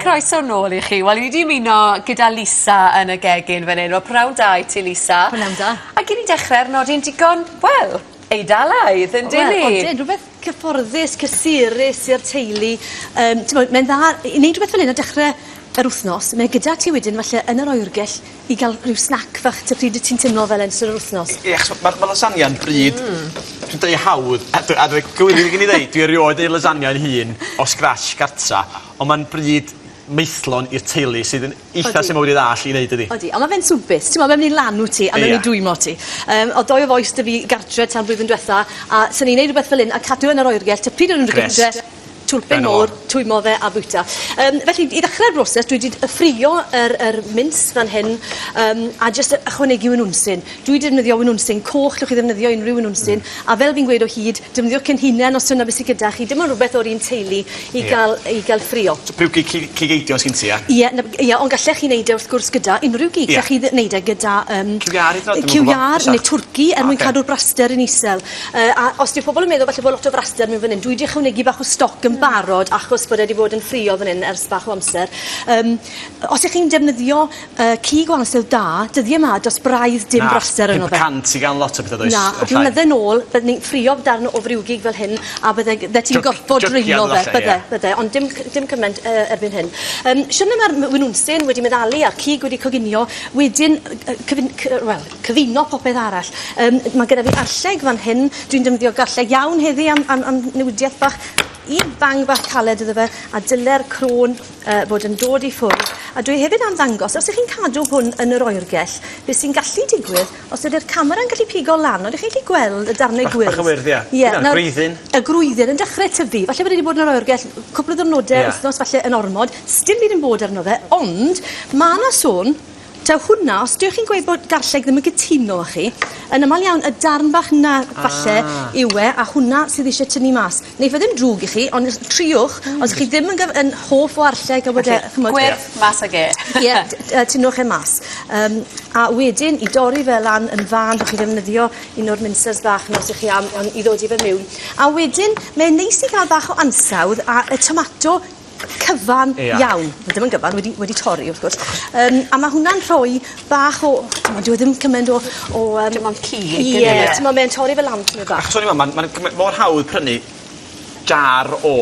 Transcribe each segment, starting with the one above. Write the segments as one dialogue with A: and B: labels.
A: Croeso nôl i chi. Wel, i ni wedi ymuno gyda Lisa yn y gegin fan hyn. Wel, prawn da i ti, Lisa. Prawn da. Ac i ni
B: dechrau ar
A: nodi'n digon, wel, Eidalaidd, yn dyn ni? Wel, odyn, rhywbeth
B: cyfforddus, cysurus i'r teulu. Um, ti'n bod, mae'n dda i wneud rhywbeth fel hyn a dechrau yr wythnos. Mae gyda ti wedyn, falle, yn yr oergell, I ga'l rhyw snac fach ta pryd wt ti'n timlo fel 'a yn ystod yr wthnos? I- ia 'chos ma' ma' lasagna'm
C: bryd... Hmm. ...dwi'n deud hawdd a dy- a dwi gywir i gyd i ddeud dwi erioed neu' lasagna 'yn hun o scratch gartra on' ma'n bryd maethlon i'r teulu sydd yn eitha... Odi. ...syml wedi ddall i neud dydi? Odi on' ma' fe'n swmpus t'mo'
B: mae'n myn' i lanw ti a mae'n myn' i dwymo ti. Yym o'dd dou o fois 'dy fi gartre tan blwyddyn dwetha a sa'n i'n neud rwbeth fel 'yn a cadw yn yr oergell ta pryd o'n nw'n dod gytre... Grêt. Twlpyn môr, twymo fe a bwyta. Um, felly, i ddechrau'r broses, dwi wedi ffrio yr, yr mince fan hyn um, a jyst ychwanegu wynwnsyn. Dwi wedi defnyddio wynwnsyn coch, llwch chi ddefnyddio unrhyw wynwnsyn, mm. a fel fi'n gweud o hyd, defnyddio cyn hunain os yna beth sydd gyda chi, dim ond rhywbeth o'r un teulu i, yeah. gael, i gael ffrio. So, piwci cigeidio
C: sy'n ti, ia? Ie, yeah, yeah, ond gallech
B: chi wneud e wrth gwrs gyda unrhyw gig, yeah. chi wneud e gyda... Um, Ciwiar, neu twrci, er mwyn cadw'r braster yn isel. Uh, a os dyw pobl yn meddwl falle bod lot o fraster mewn fan hyn, dwi wedi ychwanegu bach o stoc yn barod achos bod e wedi bod yn ffrio fan hyn ers bach o amser. Um, os ych chi'n defnyddio uh, cig o ansyl da, dyddiau yma dros braidd dim Na, braster yno fe. Na, 500 i gan lot o bethau does?
C: Na, o blynydde nôl,
B: bydde ni'n ffrio darn o friwgig fel hyn a bydde, bydde ti'n gorfod drylo fe, bydde, yeah. bydde, ond dim, dim cymaint uh, erbyn hyn. Um, Siwrna mae'r winwnsyn wedi meddalu a'r cig wedi coginio, wedyn, uh, cyfyn, well, cyfuno popeth arall. Yym ma' gyda fi arlleg fan hyn, dwi'n defnyddio garlleg iawn heddi am am am newidieth bach, un bang bach caled iddo fe, a dyle'r crôn yy fod yn dod i ffwrdd, a dwi hefyd am ddangos os 'ych chi'n cadw hwn yn yr oergell, be' sy'n gallu digwydd os ydi'r camera'n gallu pigo lan, odych chi'n gallu gweld y darne gwyrdd? Bach bach o wyrdd ie. Ie nawr... Dyna'r
C: gwreiddyn. Y gwreiddyn yn
B: dechre tyfu, falle bod e 'di bod yn yr oergell cwpwl o ddwrnode... Ie. ...wythnos falle yn ormod, sdim byd yn bod arno fe, ond ma' 'na sôn Ta hwnna, os dych chi'n gweud bod garlleg ddim yn gytuno â chi, yn aml iawn y darn bach 'na falle ah. yw e, a hwnna sydd eisiau tynnu mas. Neu fe ddim drwg i chi, ond triwch, mm. os chi ddim yn, gyf- yn hoff o arlleg a wedi... Okay. Chymod, Gwerth yeah. mas ag e.
A: Ie, yeah, uh,
B: tynwch e mas. Um, a wedyn, i dorri fe lan yn fan, bych chi ddefnyddio un o'r minsers bach nos i chi am, am, i ddod i fe mewn. A wedyn, mae'n neis i gael bach o ansawdd a y tomato cyfan iawn. Ie. Wel dim yn gyfan wedi wedi torri wrth gwrs. Achos... Yym a ma' hwnna'n rhoi bach o t'mod dyw e ddim cyment o o yym... Dim ond cig
A: yw e? Ie. Ie. T'mo' mae e'n torri
B: fe lan tymed bach. Achos o'n i me'wl ma'n ma'n cymy- mor hawdd
C: prynu jar o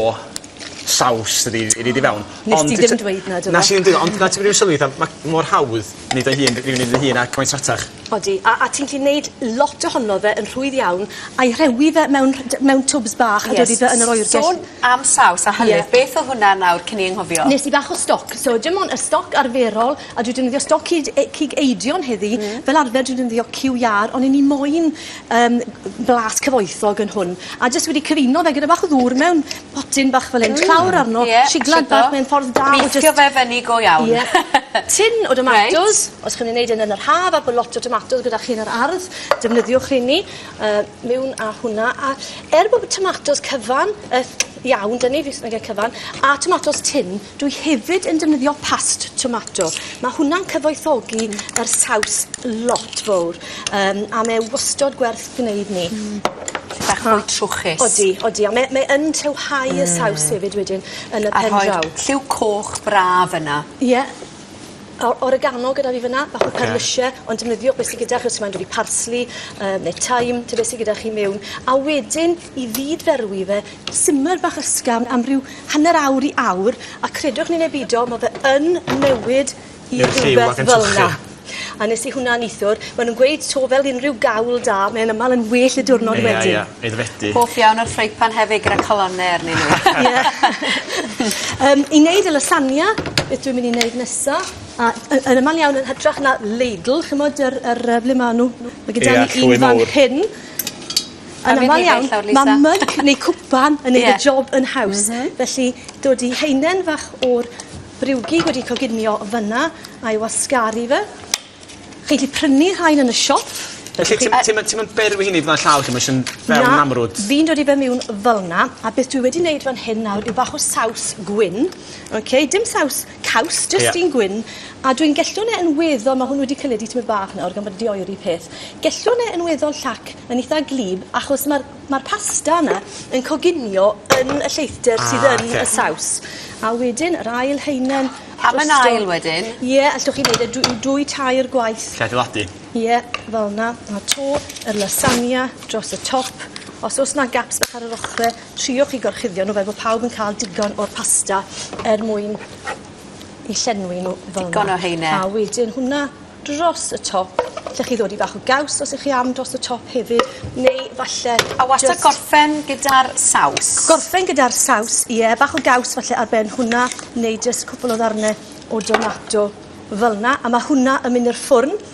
C: saws ydi i ni 'di fewn. Ond... Nes ti ddim dweud
B: 'na do fe? Nes i ddim deud o ond na ti wedi
C: sylwi fatha ma' mor hawdd Nid ei hun, ryw nid ei hun, ac mae'n sratach. Odi, a, a ti'n gallu
B: neud lot ohono fe yn rhwydd iawn. A'i rhewi fe mewn rh- d- mewn twbs bach a dodi fe yn yr oergell. Sôn am saws
A: a hylif. Ie. Beth o'dd hwnna nawr cyn i anghofio? Nes i bach o stoc.
B: So dim on' y stoc arferol a dwi defnyddio stoc cyd e- cig eidion heddi. Hmm. Fel arfer dwi'n defnyddio cyw iâr on' 'yn ni moyn yym blas cyfoethog yn hwn a jyst wedi cyfuno fe gyda bach o ddŵr mewn potyn bach fel 'yn. Ww. Tlawr arno. Ie. Siglad bach mewn ffordd da o jyst... Mixio fe fyny go
A: iawn. Ie. Tin o
B: domatos. Reit. Os chi'n myn' i neud e yn yn yr haf a bo' lot o tomatos gyda chi yn yr ardd defnyddiwch rheini yy miwn â hwnna a er bo' tomatos cyfan yy iawn 'dy ni fi jys' yn ga'l cyfan a tomatos tin Dwi hefyd yn defnyddio past tomato. Ma' hwnna'n cyfoethogi yr saws lot fowr yym a mae e wastod gwerth gneud 'ny. Hmm. Bach mwy
A: trwchus. Odi, odi a mae mae
B: yn tywhau y saws hefyd wedyn yn y pen draw. A rhoi lliw coch
A: braf yna. Ie.
B: O- oregano gyda fi fynna. Oce. Bach o perlysie ond defnyddio be' sy gyda chi os ti moyn dwli parsli yy ne' thyme ta be' sy gyda chi miwn a wedyn i fyd-ferwi fe simmer bach ysgafn am ryw hanner awr i awr a credwch ni ne' bido ma' fe yn newid i rwbeth fel 'na. A nes i hwnna nithwr ma' nw'n gweud 'to fel unryw gawl da mae'n amal yn well y diwrnod wedyn. Ia ia aeddfedu. Hoff
C: iawn o'r ffrying pan
A: hefyd gyda calone arnyn n'w. Ie. Yym
B: i neud y lasagna beth dwi'n myn' i neud nesa a y- yn amal iawn yn hytrach na ladle ch'mod yr yr yy ble ma' n'w ma' gyda ni un fan hyn Yn amal iawn ma' mug neu cwpan yn neud y job yn haws. Felly dod i haenen fach o'r briwgig wedi coginio fynna a'i wasgaru fe. Chi 'llu prynu rhain yn y siop. Felly
C: ti'm ti'm yn ti'm yn beri fy hun i fyn' â llaw lle ma' jys yn fel yn amrwd? Na, fi'n dod i fe miwn
B: fel 'na, a beth dwi wedi neud fan hyn nawr yw bach o saws gwyn, oce, dim saws caws jyst... Ie. ...un gwyn a dwi'n gellhorn e yn weddol ma' hwn wedi cynyddu tymed bach nawr gan bod e 'di oeri peth gellhorn e yn weddol llac yn itha gwlyb achos ma'r ma'r pasta yna yn coginio yn y lleithder... Ah oce. ...sydd yn y saws a wedyn yr ail haenen drosto. Am yn ail
A: wedyn? Ie allwch chi neud e
B: dwy dwy tair gwaith. 'Llai adeiladu. Ie
C: fel
B: 'na a 'to y lasagna dros y top os o's 'na gaps bach ar yr ochre Triwch i gorchuddio nw fel bo' pawb yn ca'l digon o'r pasta er mwyn 'u llenwi nw fel 'na. Digon o heine. A wedyn
A: hwnna
B: dros y top. 'Llech chi ddodi bach o gaws os 'ych chi am dros y top hefyd neu falle jyst... A wastad gorffen
A: gyda'r saws? Gorffen gyda'r
B: saws ie bach o gaws falle ar ben hwnna neu jyst cwpwl o ddarne o domato fel 'na a ma' hwnna yn myn' i'r ffwrn